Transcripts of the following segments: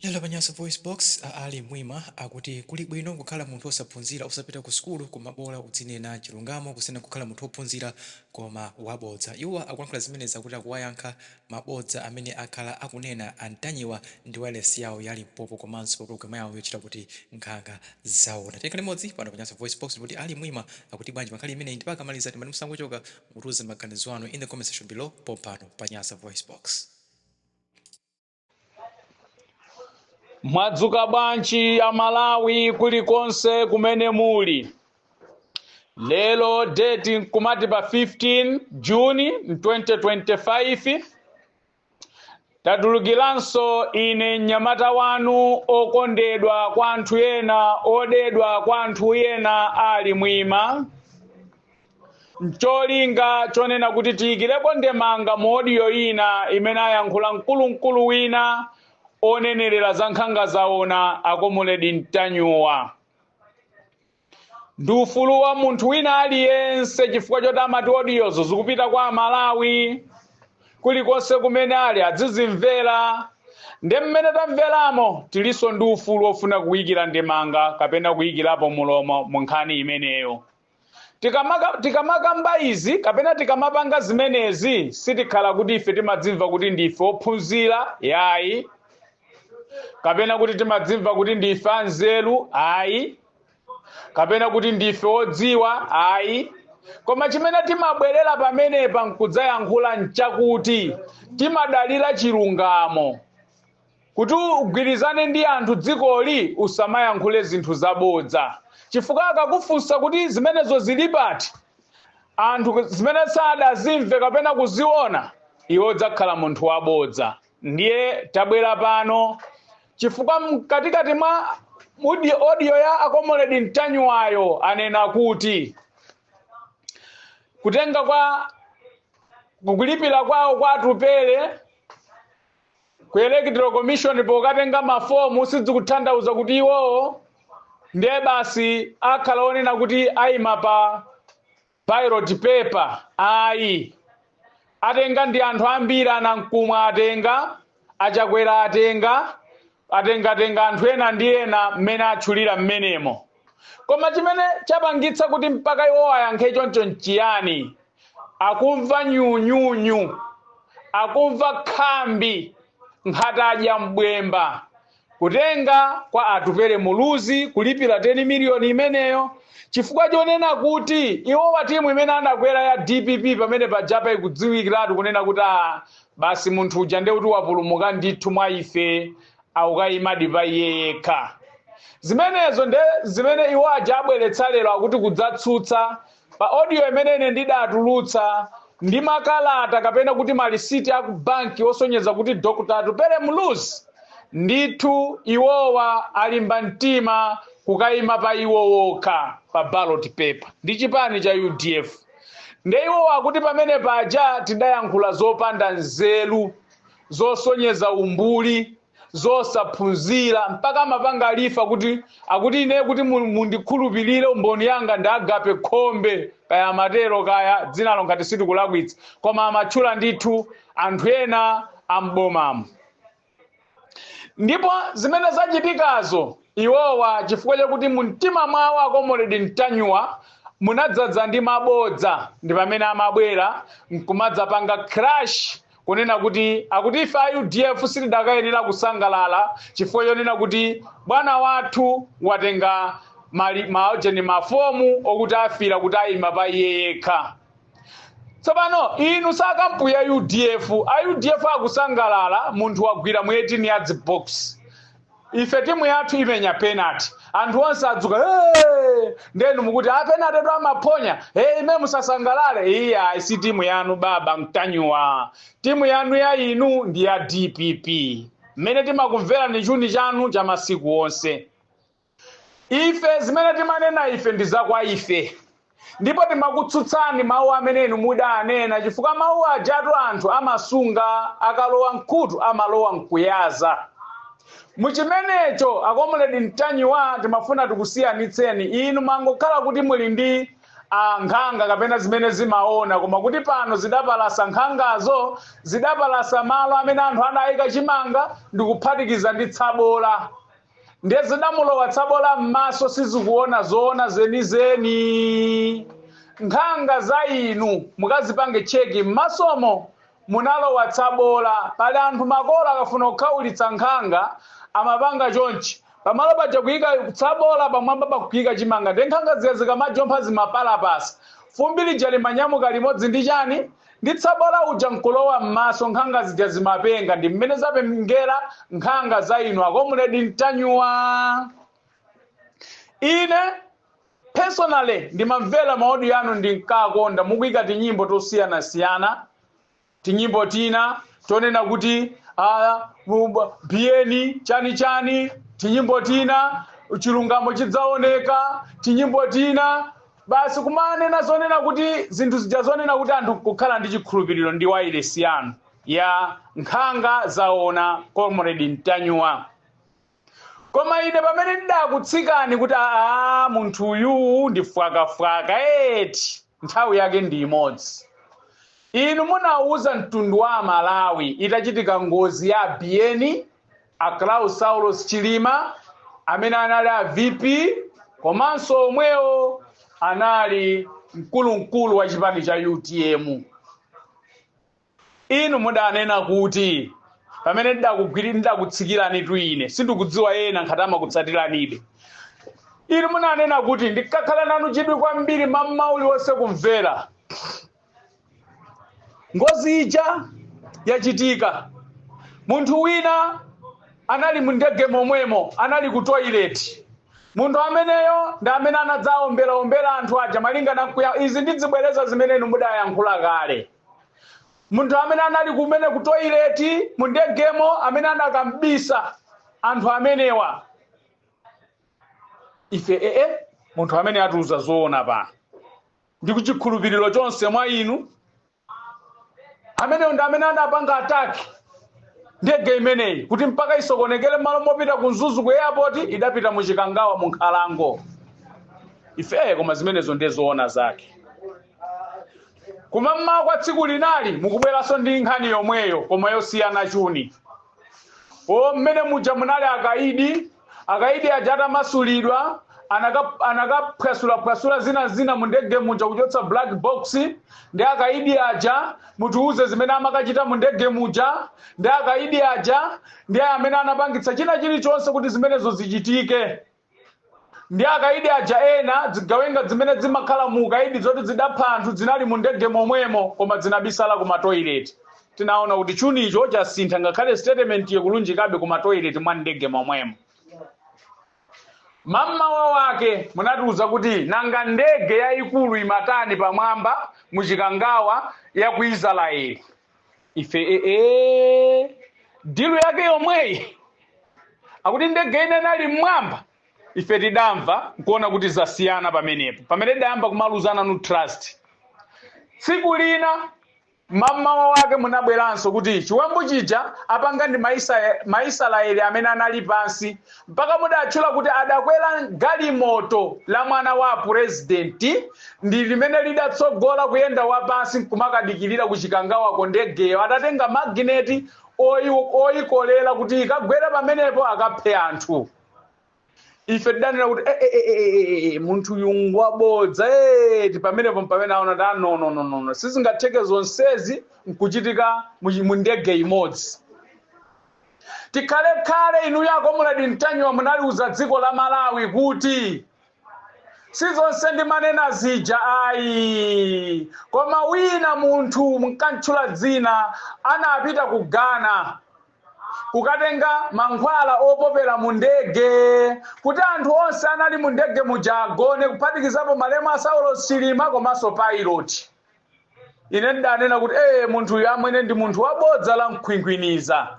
Lero pa Nyasa VoiceBox, a Allie Mwima akuti kuli bwino kukhala munthu wosaphunzira, osapita ku sukulu, koma bola udzinena chilungamo kusiyana kukhala munthu wophunzira koma wabodza. Iwo akulankhula zimenezi akuti akuwayankha mabodza amene akhala akunena a Ntanyiwa ndi wailesi yawo ya Limpopo komanso pa pulogalamu yawo yotchedwa kuti Nkhanga Zaona. Tikhale limodzi pano pa Nyasa VoiceBox ndipo kodi Allie Mwima akuti bwanji pa nkhani imeneyi? Ndipo akamaliza timati musangochoka, mutiuze maganizo anu in the comment section below pompano pa Nyasa VoiceBox. mwadzuka bwanji a malawi kulikonse kumene muli lero date nkumati pa 15 juni 2025 tatulukiranso ine mnyamata wanu okondedwa kwa anthu ena odedwa kwa anthu ena ali mwima mcholinga chonena kuti tiyikirepo ndemanga mu odiyo ina imene ayankhula mkulumkulu wina onenerera za nkhanga zaona akomuledi mtanyiwa ndi ufulu wa munthu wina aliyense chifukwa choti amati odiyozo zikupita kwa amalawi kulikonse kumene ali adzizimvera nde mmene tamveramo tilinso ndi ufulu wofuna kuyikira ndemanga kapena kuyikirapo mlomo mu nkhani imeneyo Tikamakamba izi kapena tikamapanga zimenezi sitikhala kuti ife timadzimva kuti ndife ophunzira yayi kapena kuti timadzimva kuti ndife anzeru ayi kapena kuti ndife odziwa ayi koma chimene timabwerera pamenepa nkudzayankhula nchakuti timadalira chilungamo Kuti ugwirizane ndi anthu dzikoli usamayankhule zinthu zabodza chifukwa akakufunsa kuti zimenezo zili pati anthu zimene sadazimve kapena kuziona iwe udzakhala munthu wabodza ndiye tabwera pano chifukwa mkatikati mwa audio ya akomoledi mtanyiwayo anena kuti kutenga kwa kukulipira kwawo kwa atupele ku electoral commission pokatenga mafomu sizikuthandauza kuti iwowo ndiye basi akhala onena kuti ayima pa ballot paper ayi atenga ndi anthu ambiri anankhumwa atenga achakwera atenga atengatenga anthu ena ndi ena mmene atchulira mmenemo koma chimene chapangitsa kuti mpaka iwowa ayankhe choncho nchiyani akumva nyunyunyu akumva khambi ngati adya bwemba kutenga kwa atupere muluzi kulipira 10 miliyoni imeneyo chifukwa chonena kuti iwowa timu imene anakwera ya dpp pamene pajapa ikudziwikiratu kunena kuti a basi munthu uja ndiye kuti wapulumuka ndithu mwa ife akukayimadi pa iye yekha zimenezo nde zimene iwo aja abweretsa lero akuti kudzatsutsa pa audio imene ine ndidatulutsa ndi makalata kapena kuti malisiti aku banki osonyeza kuti dr atupele muluzi ndithu iwowa alimba mtima kukayima pa iwo wokha pa ballot paper ndi chipani cha udf nde iwo akuti pamene paja tidayankhula zopanda nzeru zosonyeza umbuli zosaphunzira mpaka amapanga refer kuti akuti ine kuti mu- mundikhulupirire mboni yanga ndi agape khombe kaya amatero kaya dzinalo ngati sitikulakwitsa koma amatchula ndithu anthu ena am'bomamo ndipo zimene zachitikazo iwowa chifukwa chakuti mu mtima mwawo a comrade ntanyiwa munadzadza ndi mabodza ndi pamene amabwera nkumadzapanga crash kunena kuti akuti ife a udf sitidakayenera kusangalala chifukwa chonena kuti bwana wathu watenga mali- maojeni mafomu okuti afira kuti ayima pa iye yekha tsopano inu si a kampu ya udf a udf akusangalala munthu wagwira mu 18 yards box ife timu yathu imenya penalty anthu onse adzuka "Hey!" nde inu mukuti a penaltytu amaphonya hey, ime musasangalale iyayi si timu yanu baba ntanyiwa timu yanu ya inu ndi ya dpp mmene timakumverani chuni chanu cha masiku onse Ife, zimene timanena ife ndi za kwa ife, ndipo timakutsutsani mawu amene inu mudaanena, chifukwa mawu ajatu anthu amasunga, akalowa m'khutu amalowa nkuyaza. Mu chimenecho, a Comrade Ntanyiwa, timafuna tikusiyanitseni, inu mmangokhala kuti muli ndi a nkhanga kapena zimene zimaona, koma kuti pano zidapalasa nkhangazo, zidapalasa malo amene anthu adaika chimanga ndikuphatikiza ndi tsabola. ndiye zidamulowa tsabola m'maso sizikuona zoona zenizeni nkhanga za inu mukazipange cheki m'masomo munalowa tsabola pali anthu makolo akafuna kukhaulitsa nkhanga amapanga chonchi pamalo paja kuyika tsabola pamwamba pakuyika chimanga nde nkhanga zija zikamajompha zimapalapasa fumbi lija limanyamuka limodzi ndi chani ndi tsabola uja nkulowa mmaso nkhanga zija zimapenga ndi mmene zapengera nkhanga za inu a comrade ntanyiwa ine personally ndimamvera ma audio anu ndinkakonda mukuyika tinyimbo tosiyanasiyana tinyimbo tina tonena kuti ah, bu- biyeni chani chani tinyimbo tina chilungamo chidzaoneka tinyimbo tina Basi kumanena zonena kuti zinthu zija zonena kuti anthu nkukhala ndi chikhulupiriro ndi wailesi yanu ya nkhanga zaona comrade Ntanyuwa. Koma ine pamene ndidakutsikani kuti aa munthu uyuu ndi fwakafwaka eti nthawi yake ndi imodzi. Inu munauza mtundu wa Amalawi itachitika ngozi ya a Biyeni a Klaus Saulos Chilima amene anali a VP komanso omwewo anali mkulunkulu wa chipani cha UTM inu mudanena kuti pamene ndidakutsikiranitu ine sindikudziwa ena ngati amakutsatiranibe inu munanena kuti ndikakhala nanu chidwi kwambiri m'maola onse kumvera ngozi ija yachitika munthu wina anali mu ndege momwemo anali ku toilet munthu ameneyo ndi amene anadzaomberaombera anthu aja malinga nkuti izi ndizibwereza zimene inu mudayankhula kale munthu amene anali kumene ku toilet mu ndegemo amene anakambisa anthu amenewa ife ee munthu amene atiuza zoona pano ndi chikhulupiriro chonse mwa inu ameneyo ndi amene adapanga ataki ndege imeneyi kuti mpaka isokonekere mmalo mopita ku Mzuzu ku airport idapita mu Chikangawa mu nkhalango ife koma zimenezo ndiye zoona zake koma mmawa kwa tsiku lina mukubweranso ndi nkhani yomweyo koma yosiyana chuni o mmene muja munali akaidi Akaidi aja atamasulidwa anakaphwasulaphwasula zina zina mu ndege muja kuchotsa black box ndi akaidi aja mutiuze zimene amakachita mu ndege muja ndi akaidi aja ndi amene anapangitsa china chilichonse kuti zimenezo zichitike ndi akaidi aja ena zigawenga zimene zimakhala mu ukaidi zoti zidapha anthu zinali mu ndege momwemo koma zinabisala ku matoileti Tinaona kuti chunicho chasintha ngakhale sitetementiyo ikulunjikabe kumatoilet mwa m'ndege momwemo. Mam'mawa wake munatiuza kuti nanga ndege yaikulu imatani pamwamba mu Chikangawa ya ku Israeli. Ife ee dilu yake yomweyi akuti ndege ina inali mmwamba ife tidamva nkuona kuti zasiyana pamenepo pamene tidayamba kumaluza nanu trust tsiku lina Mmamawa wake munabweranso kuti chiwembu chija apanga ndi ma Israeli amene anali pansi mpaka mudatchula kuti adakwera galimoto la mwana wa apurezidenti ndi limene lidatsogola kuyenda wapansi nkumakadikilira ku Chikangawako ndegeyo adatenga magineti oyikolera kuti ikagwere pamenepo akaphe anthu. ife tidanena kuti munthu uyu ngwabodza pamenepo mpamene aona kuti a no no sizingatheke zonsezi nkuchitika mu ndege imodzi tikhalekhale inuyo a comrade mtanyiwa munaliuza dziko la malawi kuti si zonse ndimanena zija ayi koma wina munthu munkatchula dzina anapita ku ghana kukatenga mankhwala opopera mu ndege kuti anthu onse anali mu ndege muja agone kuphatikizapo malemu a saulos chilima komanso pilot ine ndidanena kuti ee munthuyu amwene ndi munthu wabodza la mkhwinkhwiniza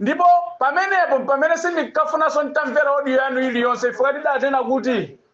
ndipo pamenepo mpamene sindinkafunanso nditamvera odiyo yanu iliyonse chifukwa ndidanena kuti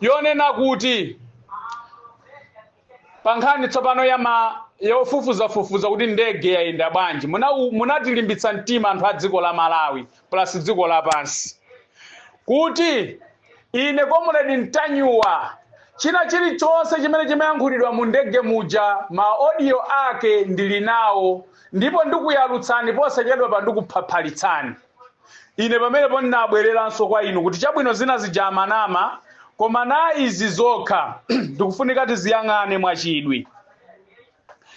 yonena kuti pa nkhani tsopano ya ma yofufuzafufuza kuti ndege yayenda bwanji munatilimbitsa mtima anthu a dziko la malawi plus dziko lapansi kuti ine comrade mtanyiwa china chilichonse chimene chimayankhulidwa mu ndege muja maodiyo ake ndili nawo ndipo ndikuyalutsani posachedwapa ndikuphaphalitsani ine pamenepo ndinabwereranso kwa inu kuti chabwino zina zija amanama koma na izi zokha tikufunika tiziyang'ane mwachidwi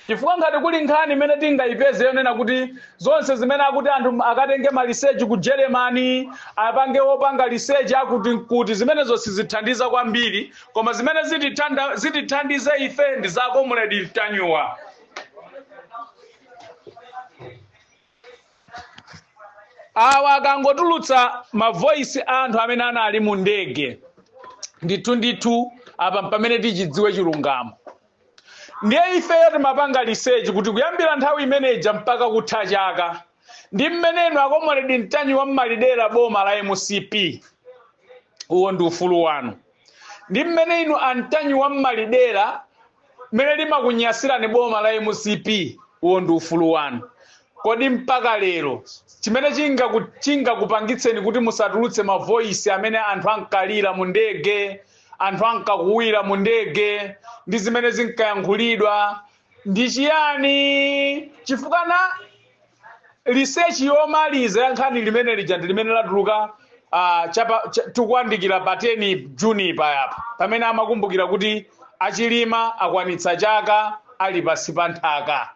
chifukwa ngati kuli nkhani imene tingayipeze yonena kuti zonse zimene akuti anthu akatenge ma research ku germany apange opanga research akuti kuti zimenezo sizithandiza kwambiri koma zimene zitithandize ife ndi za comrade mtanyiwa awa akangotulutsa mavoisi a anthu amene anali mu ndege ndithu ndithu apa mpamene tichidziwe chilungamo ndiye ifeyo timapanga research kuti kuyambira nthawi imeneja mpaka kutha chaka ndi mmene inu a comrade mtanyiwa mmalidera boma la mcp uwo ndi ufulu wanu ndi mmene inu a mtanyiwa mmalidera mmene limakunyasirani boma la mcp uwo ndi ufulu wanu kodi mpaka lero chimene chingakupangitseni kuti musatulutse mavoisi amene anthu ankalira mu ndege anthu ankakuwira mu ndege ndi zimene zinkayankhulidwa ndi chiyani chifukwa na research yomaliza ya nkhani limene lija ndi limene latuluka tikuyandikira pa 10 juni pajapa pamene amakumbukira kuti achilima akwanitsa chaka ali pansi pa nthaka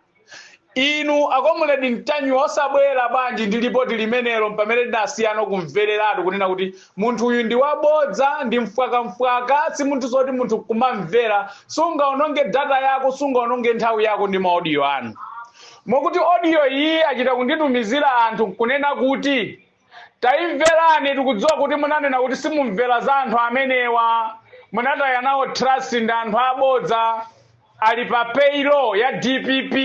inu a comrade mtanyiwa osabwera bwanji ndi lipoti limenelo pamene tinasiyana kumvereratu kunena kuti munthu uyu ndi wabodza ndi mfwakamfwaka si munthu woti munthu kumamvera sungaononge data yako sungaononge nthawi yako ndi maodiyo anu moti odiyo iyi achita kunditumizira anthu kunena kuti taimverani tikudziwa kuti munanena kuti simumamvera za anthu amenewa munataya nawo trust ndi anthu abodza ali pa payroll ya dpp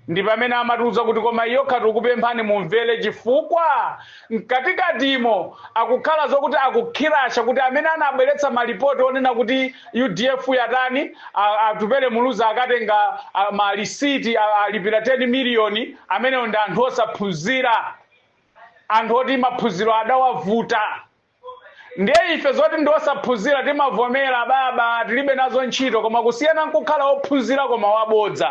ndi pamene amatiuza kuti koma iyi yokha tikupemphani mumvere chifukwa mkatikatimo akukhala zokuti akukhirasha kuti amene anabweretsa malipoti onena kuti udf yatani a- atupele muluzi akatenga malisiti alipira 10 miliyoni amenewo ndi anthu osaphunzira anthu oti maphunziro adawavuta Ndiye ife zoti ndi osaphunzira timavomera, ababa, tilibe nazo ntchito, koma kusiyana n'kukhala wophunzira koma wabodza.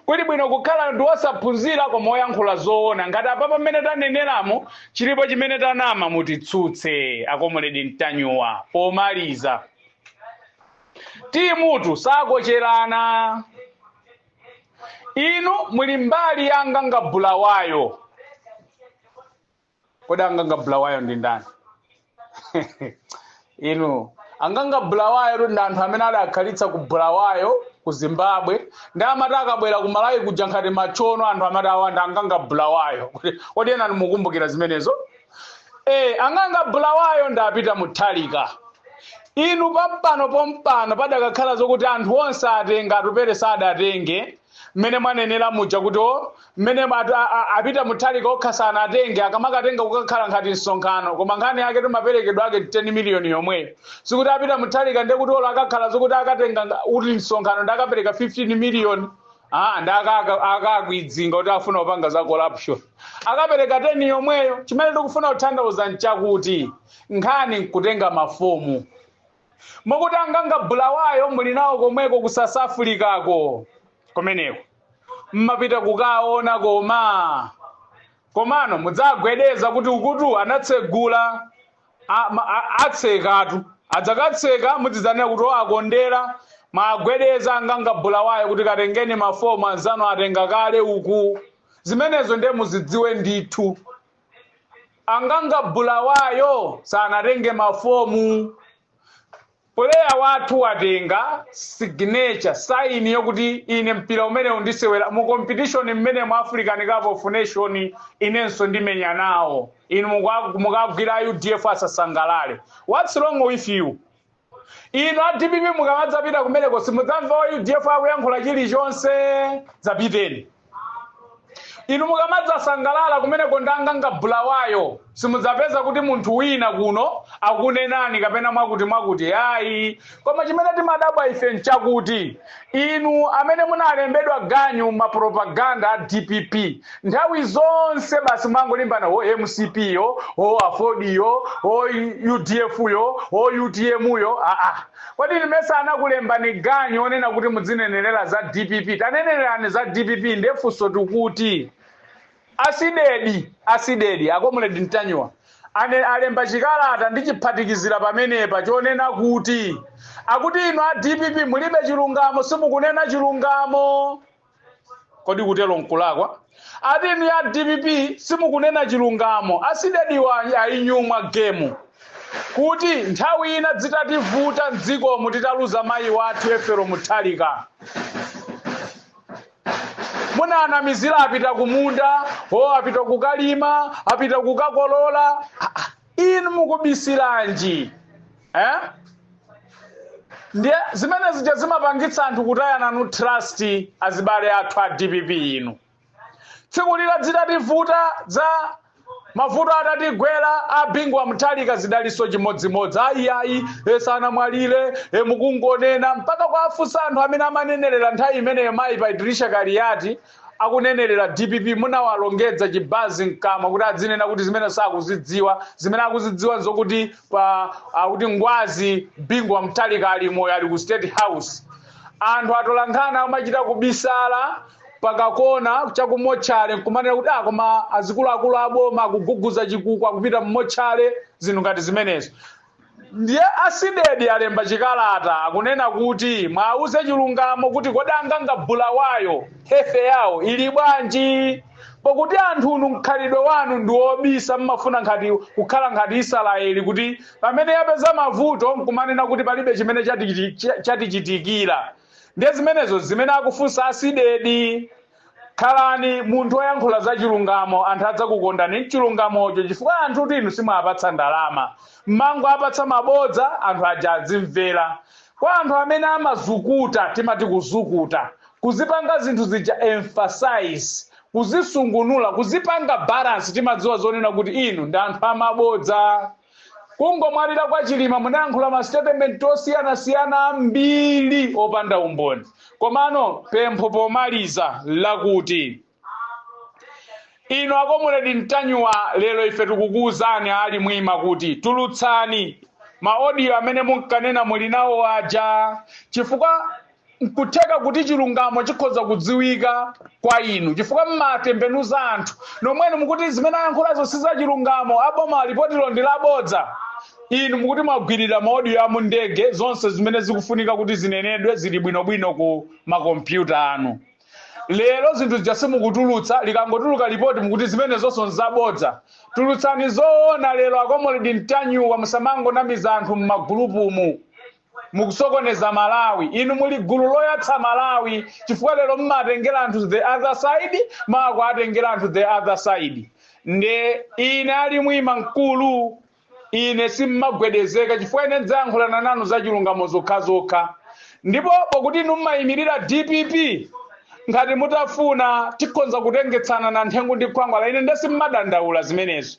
Kuli bwino kukhala wosaphunzira koma woyankhula zoona. Ngati apapa mmene taneneramu chilipo chimene tanama, mutitsutse, akomredi Mtanyuwa. Pomaliza, timutu sakocherana. Inu muli mbali ya Anganga Bulawayo. kodi anganga bulawayo ndi ndani inu anganga bulawayotu ndi anthu amene adakhalitsa ku bulawayo ku zimbabwe nde amati akabwera ku malawi kuja ngati matchona anthu amati awa nda anganga bulawayo Kodi- kodi ena mukumbukira zimenezo e anganga bulawayo ndi apita mutharika inu pampano pompano padakakhala zokuti anthu onse atenga atupele sadatenge mmene mwanenera muja kuti o mmene atu- a- a- apita mutharika okha sanatenge akamakatenga kukakhala ngati msonkhano koma nkhani yake ndi maperekedwe ake 10 miliyoni yomweyo sikuti apita mutharika nde kuti olo akakhala zokuti akatenga nga- uti msonkhano nde akapereka 15 miliyoni Ah, nde akaka- akakwidzinga kuti afuna kupanga za corruption akapereka 10 yomweyo chimene tikufuna kutanthauza nchakuti nkhani nkutenga mafomu mukuti anganga bulawayo muli nawo komweko ku south africako komweko mmapita kukawaona koma komano mudziwagwedeza kuti ukutu anatsegula a- ma- a- atsekatu adzakatseka mudzidzanena kuti o akondera mwagwedeze anganga bulawayo kuti katengeni mafomu anzanu atenga kale uku zimenezo ndiye muzidziwe ndithu Anganga Bulawayo sanatenge mafomu. Puleya wathu watenga siginecha, saini yokuti ine mpira umenewu ndisewera mu kompitishoni mmenemu, African Cup of Nation, inenso ndimenya nawo. Inu mukwa- mukagwira a udf asasangalale. Whats wrong with you? inu a dpp mukamadzapita kumeneko simudzamva wa udf akuyankhula chilichonse dzapiteni inu mukamadzasangalala kumeneko ndi anganga bulawayo simudzapeza kuti munthu wina kuno akunenani kapena mwakuti mwakuti ayi koma chimene timadabwa ife nchakuti Inu amene munalembedwa ganyu mapropaganda a dpp nthawi zonse basi mumangolimbana ho mcp yo ho aford yo ho udf yo ho utm yo kodi inu mesa anakulembani ganyu onena kuti mudzinenelera za dpp tanenelerani za dpp nde funso tukuti A Cdedi a Cdedi a Comrade Ntanyiwa ane alemba chikalata ndichiphatikizira pamenepa chonena kuti akuti inu a dpp mulibe chilungamo simukunena chilungamo kodi kutero nkulakwa ati inu ya dpp simukunena chilungamo asidediwa ayinyumwa gemu kuti nthawi ina dzitativuta mdzikomu titaluza mayi wathu ethel mutharika munanamizira apita kumunda o apita kukalima apita kukakolola Ah, ah, inu mukubisiranji eh? ndiye zimene zija zimapangitsa anthu kutaya nanu trust azibale athu a dpp inu tsiku lija dzitativuta za mavuto atatigwera a bingu wa mutharika zidaliso chimodzimodzi ayiayi e sanamwalire e mukungonena mpaka kuwafunsa anthu amene amanenerera nthawi imeneyo mayi patricia kaliati akunenerera dpp munawalongedza chibazi mkamwa kuti adzinena kuti zimene sakuzidziwa zimene akuzidziwa nzokuti pa akuti ngwazi bingu wa mutharika ali moyo ali ku state house anthu atolankhani amachita kubisala pakakona chakumotchale nkumaonera kuti ah koma azikuluakulu aboma akuguguza chikuku akupita mmotchale zinthu ngati zimenezo ndiye asidedi alemba chikalata akunena kuti mwauze chilungamo kuti kodi anganga bulawayo health yawo ili bwanji pakuti anthunu mkhalidwe wanu ndi wobisa mmafuna ngati kukhala ngati israeli kuti pamene yapeza mavuto nkumanena kuti palibe chimene chatichitikira ndiye zimenezo zimene akufunsa asidedi khalani munthu oyankhula za chilungamo anthu adzakukondani mchilungamocho chifukwa anthutu inu simuwapatsa ndalama mmangowapatsa mabodza anthu aja adzimvera kwa anthu amene amazukuta timati kuzukuta kuzipanga zinthu zija emphasize kuzisungunula kuzipanga balance timadziwa zonena kuti inu ndi anthu amabodza kungomwalira kwa chilima munayankhula mastatement osiyanasiyana ambiri opanda umboni komano pempho pomaliza lakuti inu a Comrade Ntanyiwa lero ife tikukuwuzani ali mwima kuti tulutsani maodiyo amene munkanena muli nawo aja chifukwa nkutheka kuti chilungamo chikhoza kudziwika kwa inu chifukwa mmatembenuza anthu nomwenu mukuti zimene ayankhulazo si za chilungamo aboma lipotilo ndi labodza inu mukuti mmagwirira maodiyo amu ndege zonse zimene zikufunika kuti zinenedwe zili bwinobwino ku makompyuta anu lero zinthu zija simukutulutsa likangotuluka lipoti mukuti zimene zonse nzabodza tulutsani zoona lero a Comrade Ntanyiwa musamangonamiza anthu mmagulupumu mukusokoneza malawi inu muli gulu loyatsa malawi chifukwa lero mmatengera anthu the other side mawa kuwatengera anthu the other side nde ine ali mwima mkulu ine simmagwedezeka chifukwa ine ndidzayankhulana nanu za chilungamo zokhazokha ndipo pokuti inu mmayimirira dpp ngati mutafuna tikhonza kutengetsana na nthengu ndi khwangwala ine nde simmadandaula zimenezo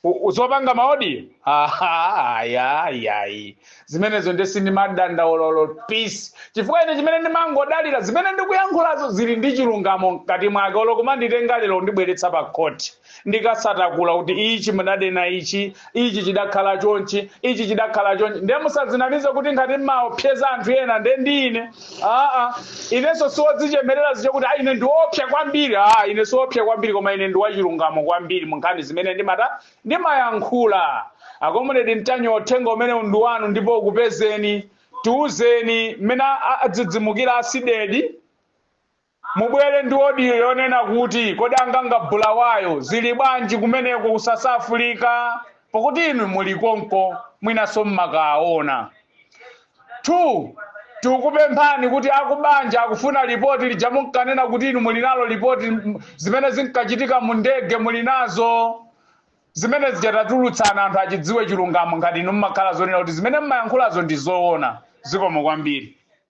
U- u- zopanga maodiyo Aha, aya ayayi zimenezo nde sindimadandaula olo pisi chifukwa ine chimene ndimangodalira zimene ndikuyankhulazo zili ndi chilungamo mkati mwake olo kumanditenga lero ndibweretsa pa court ndikasatakula kuti ichi mudanena ichi ichi chidakhala chonchi ichi chidakhala chonchi nde musadzinamize kuti ngati mmaopseza anthu ena nde ndine aa inenso siwodzichemerera zija kuti a ine ndiwopsa kwambiri a ine siwopsa kwambiri koma ine ndiwachilungamo kwambiri mu nkhani zimene ndimata ndimayankhula a Comrade Ntanyiwa uthenga umenewu ndi wanu ndipo ukupezeni tiwuzeni mmene a- a- adzidzimukira asidedi Mubwere ndi audio yonena kuti kodi anganga Bulawayo zili bwanji kumeneko ku South Africa pakuti inu muli konko mwinanso mmakaona. 2, tikukupemphani kuti akubanja akufuna lipoti lija munkanena kuti inu muli nalo lipoti m- zimene zinkachitika mu ndege muli nazo zimene zija tatulutsani anthu achidziwe chilungamo ngati inu mmakhala zonena kuti zimene mmayankhulazo ndi zoona zikomo kwambiri